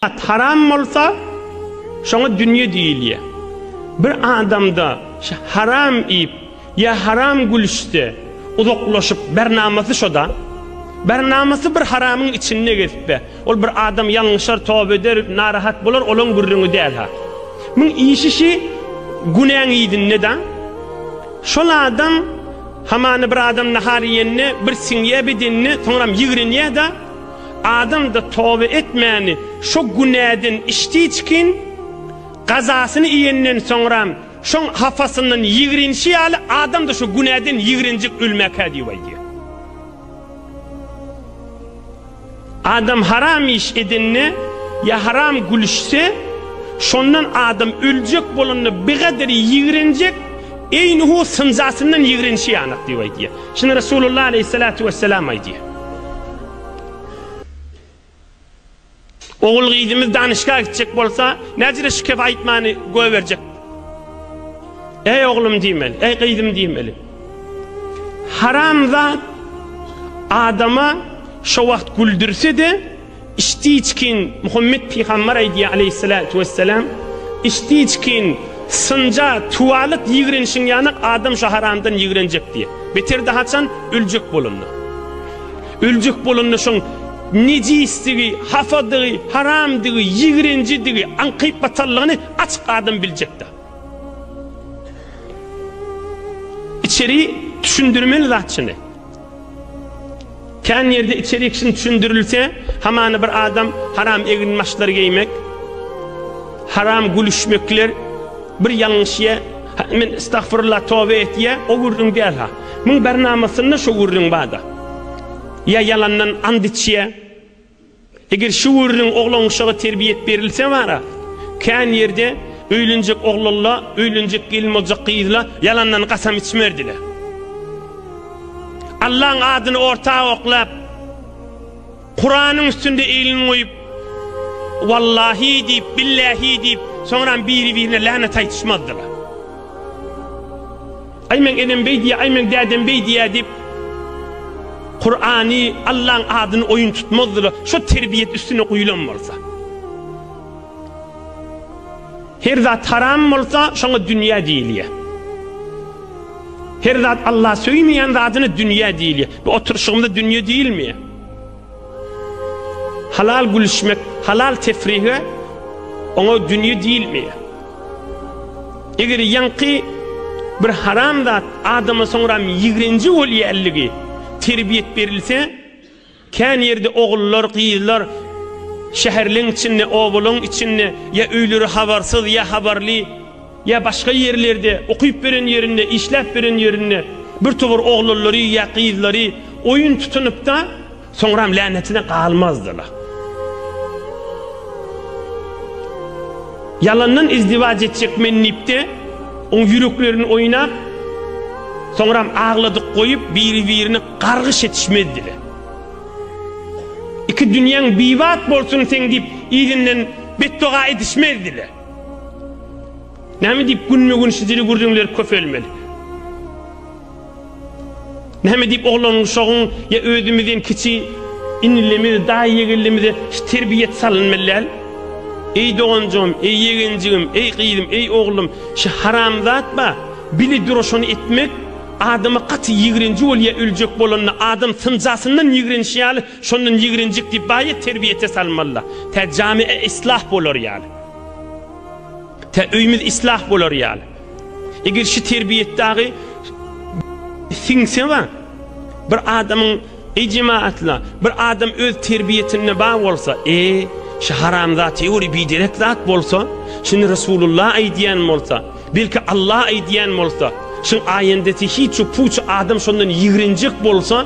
At haram bolsa, şoňa dünýe diýilýär. Bir adamda şu haram iýip, Ýa haram gülüşse, uzaklaşyp, bernamasy şo-da. Bernamasy bir haramyň içinde gezip-ä. Ol bir adam ýalňyşar, toba eder, narahat bolar, olaň gürrüňi däl-ha. Muň işi şi günäň yzynda-da. Şol adam, hamana bir adam nahar iýende, bir siňýä bedenine, soňram ýigrenýä-de. Adam-da toba etmäni, şo günäden içdiçkin, gazasyny iýenden soňram, Şoň hapasyndan ýigrenişi ýaly adam-da şu günäden ýigrenjek ölmäkä diýip aýdýar. Adam haram iş edende ýa haram gülüşse, şondan adam öljek bolanda bigader ýigrenjek, eýnuhu synjasyndan ýigrenişi ýanak diýip aýdýar. Şuny Resulullah aleýhissalatu wessalam aýdýar. Ogul-gyzymyz danyşga gitjek bolsa, näcirä şu kep aýtmany goýberjek? Eý oglum diýmeli, eý gyzym diýmeli. Haramzat adama şo wagt güldürse-de, içdi-içkin Muhammet pygamber aýdýar aleýhissalatu wessalam, içdi-içkin synja tuwalyk ýigrenişiň ýanak adam şo haramdan ýigrenjek diýýär. Beter-de haçan öljek bolanda. Öljek bolanda şoň nejisdigi, hapadygy, haramdygy, ýigrenjidigi, aňkyp-batanlygyny açyk adam biljekdä. Içeri düşündirmeli zat şuny. Kän ýerde içeri kişini düşündirilse, hamana bir adam haram eginbaşlary geýmek, haram gülüşmekler, bir ýalňyş ýe, men estagfirullah, toba etýä, o gürrüň däl ha. Muň barnamasynda şo gürrüň barda. Ýa ýalandan and içýä. Eger şu gürrüň oglanuşaga terbiýet berilse bara, kän ýerde öýlenjek oglanla, öýlenjek gelin boljak gyzla ýalandan gasam içmerdiler. Allaň adyny orta oklap. Kuranyň üstünde elini goýup, Wallahi diýip, Billahi diýip, soňram biri-birine länet aýtyşmazdylar. Aý meň enem beý diýýär, aý meň dädem beý diýýär diýip, Kurany, Allaň adyny oýun tutmazdylar, şo terbiýet üstüne guýlan bolsa. Her zat haram bolsa, şoňa dünýä diýilýär. Her zat Allah söýmeýän zadyna dünýä diýilýär. Bu oturyşygymyza dünýe diýilmeýär. Halal gülüşmek, halal tefrihe oňa dünýe diýilmeýär. Eger ýaňky bir haram zat adama soňram ýigrenji bolýanlygy terbiýet berilse, kän ýerde ogullar, gyzlar şäherleň içinde, obalaň içinde ýa öýleri habarsyz, ýa habarly, Ýa başga ýerlerde, okyp beren ýerinde, işläp beren ýerinde birtowar oglanlary ýa gyzlary oýun tutunypda, soňram länetine galmazdyla. Ýalandan izdiwaç etjek men diýipde, oň ýüreklerini oýnap, soňram agladyk goýup, biri-birini gargyş etişmezdile. Iki dünýäň bibat bolsun seň diýip, yzyndan betdoga edişmezdile. Näme diýip günme-gün şu dili gürrüňler köpelmeli? Näme diýip oglan-uşagyň ýa özümizden kiçi inilerimize, daýy-ýegenlerimize şu terbiýet salynmaly däl? Eý doganjygym, eý ýegenjigim, eý gyzym, eý oglum, şu haramzat ba, bile dura şony etmek adama gaty ýigrenji bolýa öljek bolanda adam synjasyndan ýigrenişi ýaly Şondan ýigrenjik diýip baýa terbiýete salmalyda. Tä jamiä islah bolar ýaly. Tä öýümiz islah bolar ýaly. Eger şu terbiýet dagy siňse we bir adamyň eý jemaatla, bir adam öz terbiýetinde bar bolsa, e, şu haramzat ýöri biderek zat bolsa, şuny Resulullah aýdýan bolsa, belki Allah aýdýan bolsa, şuň aýendesi hiç ýok, puç adam şondan ýigrenjik bolsa,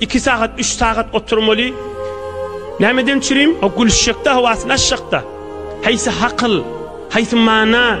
Iki sagat üç sagat oturmaly nämeden çürim o gülüşjekde hawasyny açjakda haýsy hakyl haýsy mana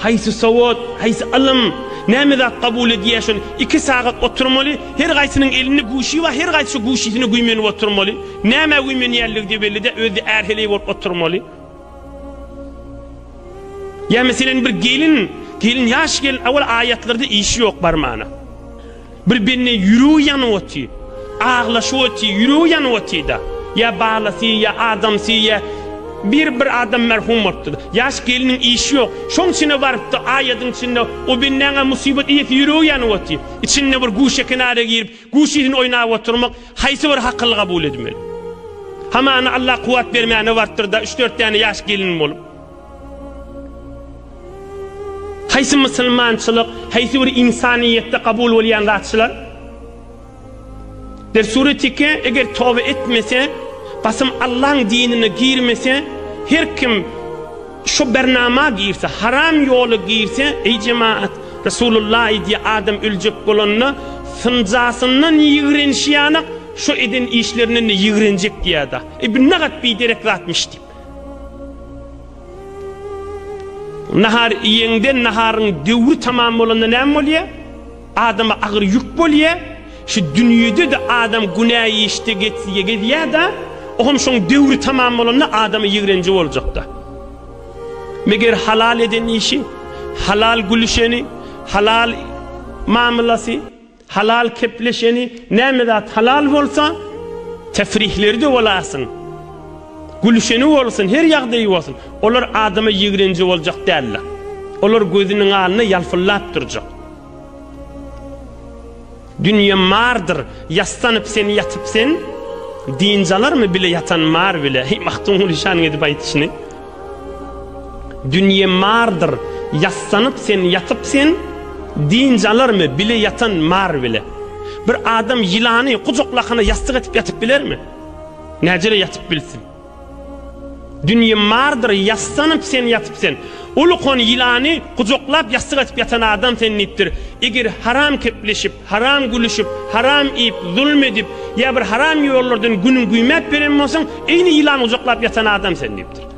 haýsy sowat haýsy ylym näme zat kabul edýär şony iki sagat oturmaly her gaýsynyň elinde guşy bar her gaýsy guşysyny güýmenip oturmaly näme güýmenýänligi bellide özi ärheleý bolup oturmaly ýa meselen bir gelin gelin ýaş gelin awal aýatlarda işi ýok barmana. Bir bende ýüregi ýanyp oty. Aglaşyp oty, ýüregi ýanyp otyda. Ýa balasy, ýa adamsy, ýa bir bir adam merhum bolupdyr. Ýaş gelniň işi ýok. Şoň içine barypdy, aýadyň içinde o bendäň-ä musibat iýesi ýüregi ýanyp oty. Içinde bir guşa kenara girip, guşyny oýnap oturmak haýsy bir hakyly kabul edmeli. Hamana Alla kuwwat bermäne barypdyr-da, üç-dört däne ýaş gelin bolup. Haýsy musulmançylyk, haýsy bir ynsanyýetde kabul bolýan zat şular? Der suretike eger toba etmese, basym Allaň dinine girmese, her kim şu bernama girse, haram ýola girse, eý jemaat, Resulullah aýdýa adam öljek bolanda synjasyndan ýigrenşýanak, şu eden işlerinden-de ýigrenjek diýýada. Eý bu nagat biderek zatmyş diýip. Nahar iýeňde, naharyň döwri tamam bolanda näme bolýar? Adama agyr ýük bolýar. Şu dünýede-de adam günä işde getsige gezýär-de, o hem şoň döwri tamam bolanda adama ýigrenji boljak-da. Meger halal eden işi, halal gülüşeni, halal mamlasy. Halal kepleşeni, näme zat halal bolsa, tefrihleri-de bolasyn, gülüşeni bolsun, her ýagdaýy bolsun, olar adama ýigrenji boljak däldir. Olar gözüniň alny ýalpyldap durjak. Dünýe mardyr, ýassanyp sen ýatyp sen, dynç alarmy bile ýatan mar bile. Heý, Magtymguly şanyň edip aýdyşyny. Dünýe mardyr, ýassanyp sen ýatyp sen, dynç alarmy bile ýatan mar bile? Bir adam ýylany gujaklakana ýassyk etip ýatyp bilermi? Näjele ýatyp bilsin? Dünýe mardyr, ýassanyp sen ýatyp sen, ulukon ýylany gujaklap ýassyk etip ýatan adam sen diýipdir, eger haram kepleşip, Haram gülüşip, haram iýip, zulum edip, ýa bir haram ýollardan günüň güýmäp beren bolsaň, eýni ýylan gujaklap ýatan adam sen diýipdir.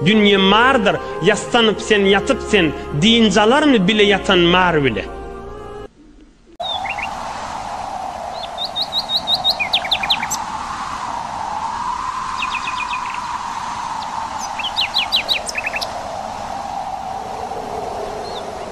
Dünýe mardyr, ýassanyp sen, ýatyp sen, dynç alarmy bile ýatan mar bile.